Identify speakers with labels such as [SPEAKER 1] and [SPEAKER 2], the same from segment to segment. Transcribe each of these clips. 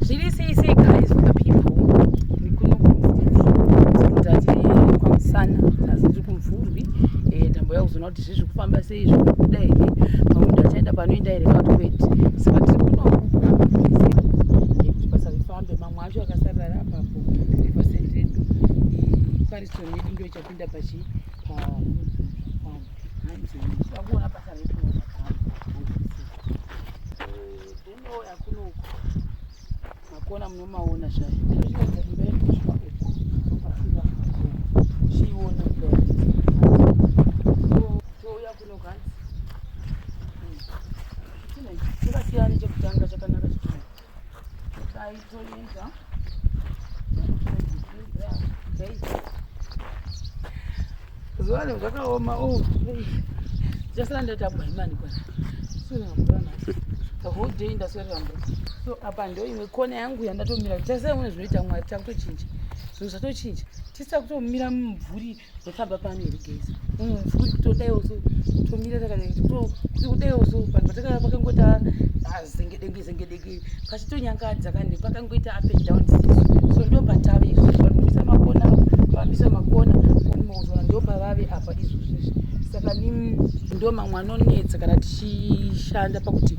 [SPEAKER 1] zviri sei sei guys for the people kwamusana asi tiri kumvurwi eh, tamboya kuzoona kuti zvizvi kufamba sei zvikuda here pamwe munhu achaenda panoenda here kati kwete saka tiri kunokuti basa rifambe mamwe acho akasarira rapapo epasendedo pariston yedu ndo ichapinda pachi pakuona basa redu Makona munomaona zvayo. Uchiona touya kuno kanzi. Chakasiyana chekutanga chakanaka chikuru. Dai Zuwa leo zvakaoma oh. Jasala ndaita bwaimani kwana. Sura mvura nasi. The whole day ndaswerera mvura. So apa ndo imwe kona yangu yandatomira. Jasala mune zvinoita mwari takutochinja. Zvinhu zvatochinja. Tisa kutomira mumvuri zvafamba pano here gezi mm, futi kutodaiwo so tomira takadai kuti kudaiwo so vanhu vatakava pakangoita zengedenge zengedenge pachitonyangadza kani pakangoita up and down so ndo patave izvozvi vanobisa makona vambisa makona onimauzoona ndo pavave apa izvozvizvi saka ndo mamwe anonetsa kana tichishanda pakuti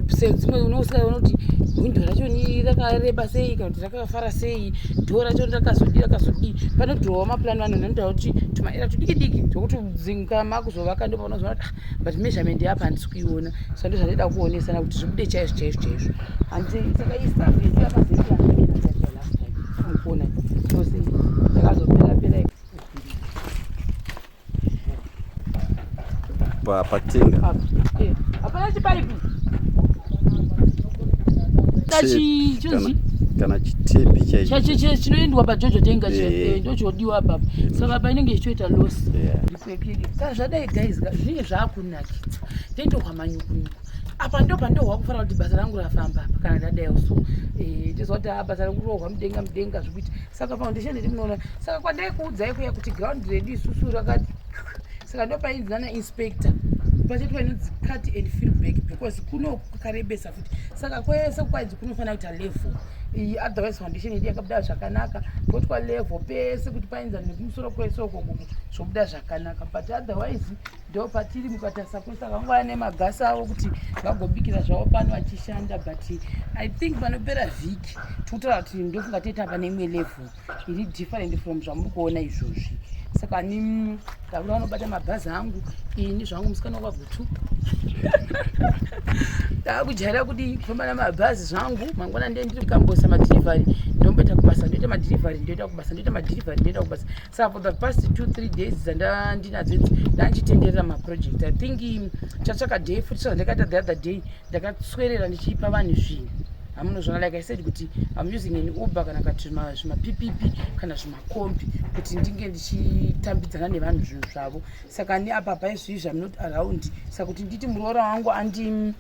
[SPEAKER 1] sedzimwe unousika unoti hwindo racho ni rakareba sei kana kuti vakafara sei dhoo racho rakazodii rakazodii panodhirowa mapulani vanhu vanotaura kuti tumaera tudiki diki tokuti dzinga makuzovaka ndo paunozona kuti ah, but measurement yapa handisi kuiona sa ndo zvandaida kuonesana kuti zvibude chaizvo chaizvo chaizvo hanzi saka istaff yedu yakazoiaamukuona ose yakazopera pera
[SPEAKER 2] pa patenga eh, hapana
[SPEAKER 1] chipaipi
[SPEAKER 2] kana chitepi chaicho chinoendwa
[SPEAKER 1] pajojo tenga eh. eh, ndochodiwa apapa mm. saka painenge ichitoita loss ka zvadai guys zvinenge zvaakunakidza taitohwa manyukunyuku apa ndo pandohwa kufanira kuti basa rangu rafamba apa kana ndadai so tizoda basa rangu rohwa mudenga mudenga zvekuti saka foundation iri munoona saka kwandai kuudzai kuya kuti ground redu isusu rakati saka ndopainzi nana inspector pachati painonzi cut and feel back because kuno kukarebesa futi saka kwese kwainzi kunofanira kuita level iyi otherwise foundation yedu yakabuda zvakanaka kotwa level pese kuti painza nekumusoro kwese ukoko zvobuda zvakanaka but otherwise ndo patiri mukatarisa kuri saka vangova nemagasi avo kuti vagobikira zvavo pano vachishanda but i think panopera vhiki tikutoraa kuti ndofunga toita pane imwe level iri different from zvamuri kuona izvozvi saka ni mm, tavura vanobata mabhazi angu ini zvangu musikana wakagutu ndaakujaira kuti kufamba namabhazi zvangu mangwana ndee ndiri kukambosa madhirivhari ndomboita kubasa ndoita madhirivhari ndoita kubasa ndoita madhirivhari ndoita kubasa sa for the past two three days dzandandinadzo idzi ndandichitenderera maproject i think chatsvaka day futi so ndakaita the other day ndakaswerera ndichiipa vanhu zvinhu hamunozvona like i said kuti im using an uber kana kati zvimapp kana zvimakombi kuti ndinge ndichitambidzana nevanhu zvinhu zvavo saka neapapa izvizvi am not around saka kuti nditi muroora wangu andi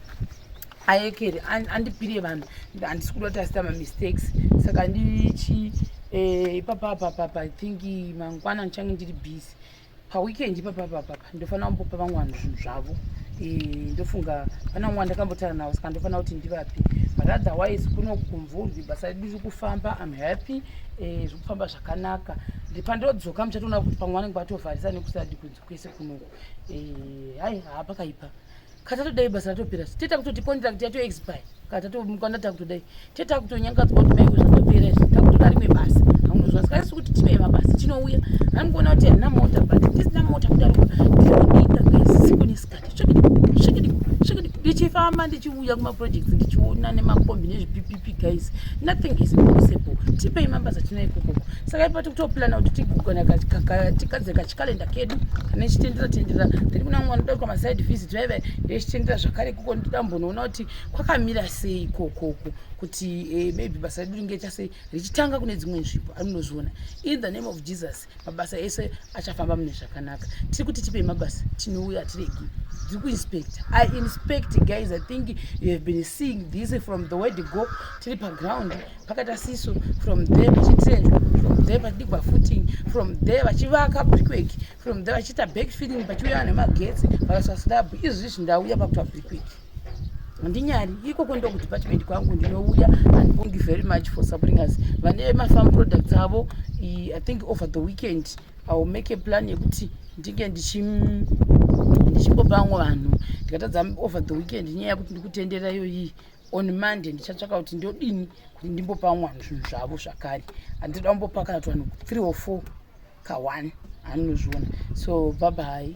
[SPEAKER 1] ayekere andipire vanhu handisi kuda kuti asita mamistakes saka ndichi eh, ipapa papapa i think mangwana ndichange ndiri busy paweekend ipapa papapa ndofanira kumbopa vamwe vanhu zvinhu zvavo eh, ndofunga pana vamwe vandakambotaura navo saka ndofanira kuti ndivapi but otherwise kuno kumvurwi basa redu riri kufamba im happy eh, zviri kufamba zvakanaka pandodzoka muchatoona kuti pamwe vanenge vatovharisa nekusadi kunzi kwese kunoku hai haapakaipa kana tatodai basa ratopera tete takutoti contract yato expire kana tatomukwana takutodai tete takutonyangadzwa kuti maiwe zvatopera izvi takutoda rimwe basa haunozwa saka isi kuti tine mabasa tinouya anikuona kuti handina mota but tisina mota kudarika ndinokuita kaisiku nesikati ndichifamba ndichiuya kumaprojects ndichiona nemakombi nezvipipipi guys nothing is impossible tipei mabasa tinaikokoko saka ipati kutoplana kuti tigugana tikadzeka chikalenda kedu kane chitendera tendera tiri kuna mwana doko maside visit vaiva ndechitendera zvakare kuko ndoda mbonoona kuti kwakamira sei kokoko kuti eh, maybe basa redu ringeita sei richitanga kune dzimwe nzvimbo arinozviona in the name of jesus mabasa ese achafamba mune zvakanaka tiri kuti tipei mabasa tinouya tiregi tiri kuinspecta i inspect guys i think you have been seeing this from the word go tiri paground pakaita siso from there vachitrenza from there vachidigwa footing from there vachivaka brickwork from there vachiita back feeling vachiuya vanhu vemagetsi vakaisa slab izvi izvi ndauya pakuita brickwork handinyari ikoko ndo kudepartment kwangu ndinouya andibongi very much for supporting us vane mafarm products avo i think over the weekend iwill make a plan yekuti ndinge ndichimbopa vamwe vanhu ndikatadza over the weekend nyaya yekuti ndikutenderaiyoyii on monday ndichatsvaka kuti ndodini kuti ndimbopa vamwe vanhu zvinhu zvavo zvakare handida kumbopakana kuti vanhu three or four kaone anozviona so bhabhai